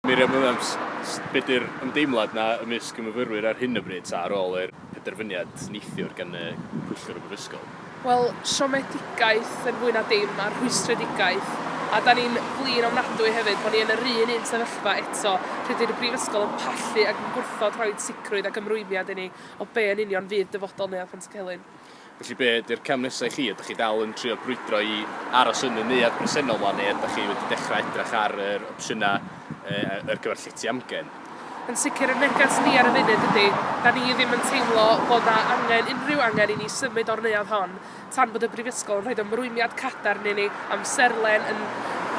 Miriam Williams, Be 'di'r ymdeimlad 'na ymysg y myfyrwyr ar hyn o bryd ta, ar ôl i'r penderfyniad neithiwr gan y pwyllgor y brifysgol? Wel, siomedigaeth yn fwy na dim, a rhwystredigaeth. A 'dan ni'n flin ofnadwy hefyd bo' ni yn yr un un sefyllfa eto, lle 'di'r brifysgol yn pallu ac yn gwrthod rhoid sicrwydd ac ymrwymiad i ni o be' yn union fydd dyfodol Neuadd Pantycelyn. Felly be ydy'r cam nesa i chi? Ydych chi dal yn trio brwydro i aros yn y neuadd bresennol wan neu ydych chi wedi dechrau edrych ar yr opsiynau yy ar gyfer llety amgen? Yn sicr y neges ni ar y funud ydy, da ni ddim yn teimlo bod na angen unrhyw angen i ni symud o'r neuadd hon tan bod y Brifysgol yn rhoid ymrwymiad cadarn i ni amserlen yn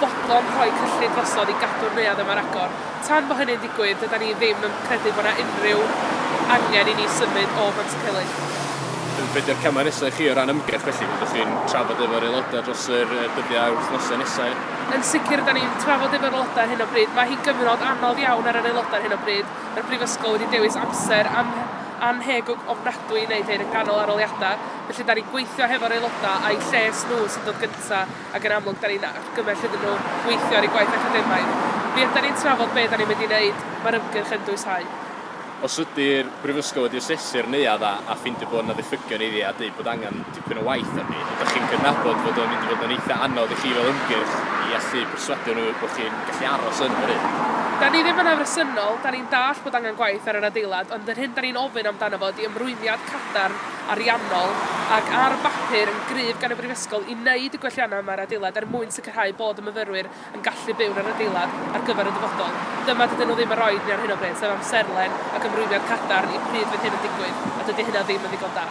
fodlon rhoi cyllid drosodd i gadw'r neuadd yma ar agor. Tan bo hynny'n digwydd, dydan ni ddim yn credu bod 'na unrhyw angen i ni symud o Bantcylig. Be 'di'r camau nesa' i chi o ran ymgyrch felly? Be 'dych chi'n trafod efo'r aelodau dros yr yy dyddiau a'r wythnosau nesa'? Yn sicr rydan ni'n trafod efo'r aelodau ar hyn o bryd. Mae hi'n gyfnod anodd iawn ar yr aelodau ar hyn o bryd. Mae'r Brifysgol wedi dewis amser an- annhegwg ofnadwy i wneud hyn, yn ganol arholiadau. felly 'da ni'n gweithio hefo'r aelodau a'u lles nhw sy'n dod gynta' ac yn amlwg 'da ni'n argymell iddyn nhw weithio ar eu gwaith academaidd. Mi ydan ni'n trafod be' 'da ni'n mynd i 'neud, mae'r ymgyrch yn dwyshau. Os ydi'r Brifysgol wedi asesu'r neuadd a a ffeindio bod 'na ddiffygion iddi a deud bod angen dipyn o waith arni, ydach chi'n cydnabod fod o'n mynd i fod yn eitha' anodd i chi fel ymgyrch i allu perswadio nhw bod chi'n gallu aros yn yr Urdd? Da ni ddim yn afresymol, 'da ni'n dallt bod angen gwaith ar yr adeilad ond yr hyn 'da ni'n ofyn amdano fo ydi ymrwymiad cadarn ariannol ac ar bapur yn gryf gan y Brifysgol i wneud y gwelliannau yma i'r adeilad er mwyn sicrhau bod y myfyrwyr yn gallu byw yn yr adeilad ar gyfer y dyfodol. Dyma, dydyn nhw ddim yn rhoid ni ar hyn o bryd, sef amserlen ac ymrwymiad cadarn i pryd fydd hyn yn digwydd, a dydy hynna ddim yn ddigon da.